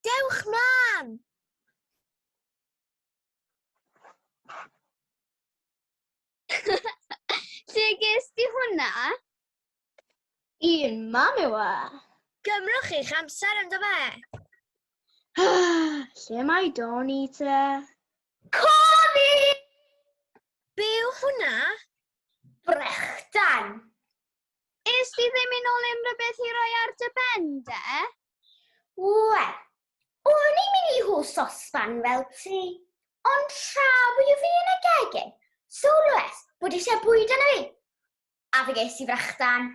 Dewch mlaen! Lle ges di hwnna? I'n mam yw e. Gymrwch eich amser ynddo fe. Lle mae Doni te? Coni! Be yw hwnna? Brechdan. Ys ti ddim yn ôl unrhyw beth i roi ar dy ben de? Wel, o'n i'n mynd i hw sosban fel ti, ond tra bod i fi yn y gegin, sylwes bod eisiau bwyd yn y fi, a fe ges i frachdan.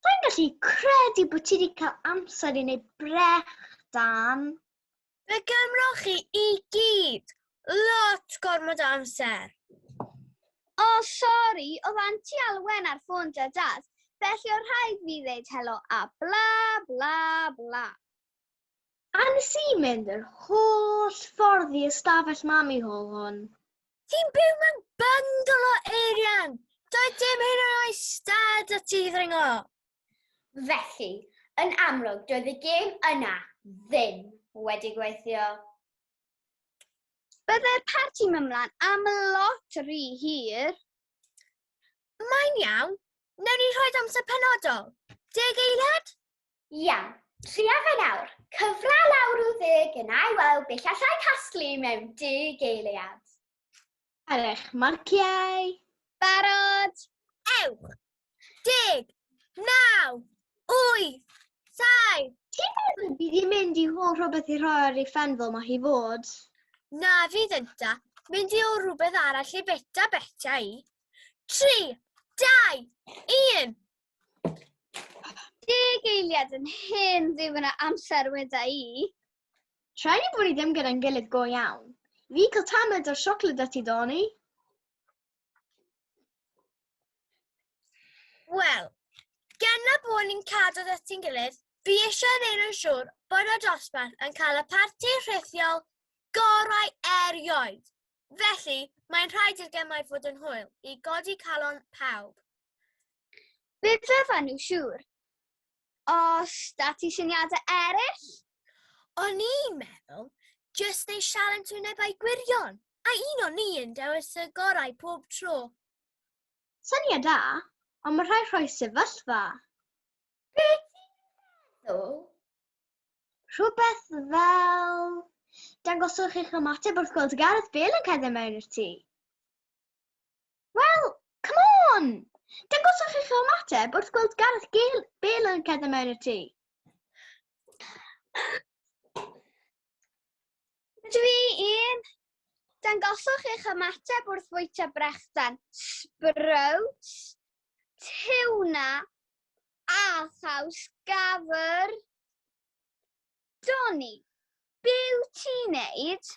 Rwy'n gallu credu bod ti wedi cael amser i wneud brechdan. Fe gymroch chi i gyd lot gormod o amser. O, sori, oedd Anti Alwen ar ffôn da dad, felly o rhaid fi ddeud helo a bla bla bla. A nes i mynd yr holl ffordd i ystafell mami hol hwn. Ti'n byw mewn bungalow, Eirian! Doedd dim hyn yn oes dad a ti ddringo! Felly, yn amlwg, doedd y gêm yna ddim wedi gweithio. Byddai'r parti mymlaen am lot rhy hir. Mae'n iawn. Newn ni rhoi amser penodol. Deg eiliad? Iawn. Tria fe nawr. Cyfra lawr i'w ddeg yn ei weld beth allai casglu mewn deg eiliad. Ar eich marciau. Barod. Ewch. Deg. Naw. Wyth. Saif. Ti'n meddwl bydd i'n mynd i hol rhywbeth i rhoi ar ei ffen fel mae hi fod? Na fydd ynta. Mynd i hol rhywbeth arall i beta beta i. Tri. Dau. Un. Deg eiliad yn hyn ddim yna amser weda i. Tra ni bod ni ddim gyda'n gilydd go iawn, fi cael tamed o'r siocled da ti doni? Wel, gan na bod ni'n cadw da ti'n gilydd, fi eisiau neud yn siŵr bod y dosbarth yn cael y parti rhithiol gorau erioed. Felly, mae'n rhaid i'r gemau fod yn hwyl i godi calon pawb. Fe fyddwn nhw siŵr. Os da ti syniadau eraill? O'n i'n meddwl, jyst neu sialens wynebau gwirion, a un o'n ni yn dewis y gorau pob tro. Syniad da, ond mae rhai rhoi sefyllfa. Be ti'n meddwl? Rhywbeth fel... Dangoswch eich ymateb wrth gweld Gareth Bale yn cerdded mewn i'r tŷ. Wel, come on! Dangoswch eich ymateb wrth gweld Gareth Gale, Bale yn cerdded mewn i'r tŷ. Dw i un. Dangoswch eich ymateb wrth fwyta brechdan, sprouts, tiwna a thaws gafr. Doni, be wyt ti'n neud?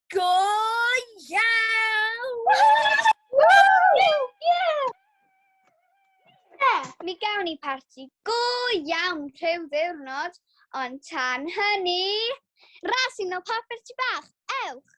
Go iawn! Mi gawn ni parti go iawn rhyw ddiwrnod, ond tan hynny, ras i nol papur ti bach, ewch!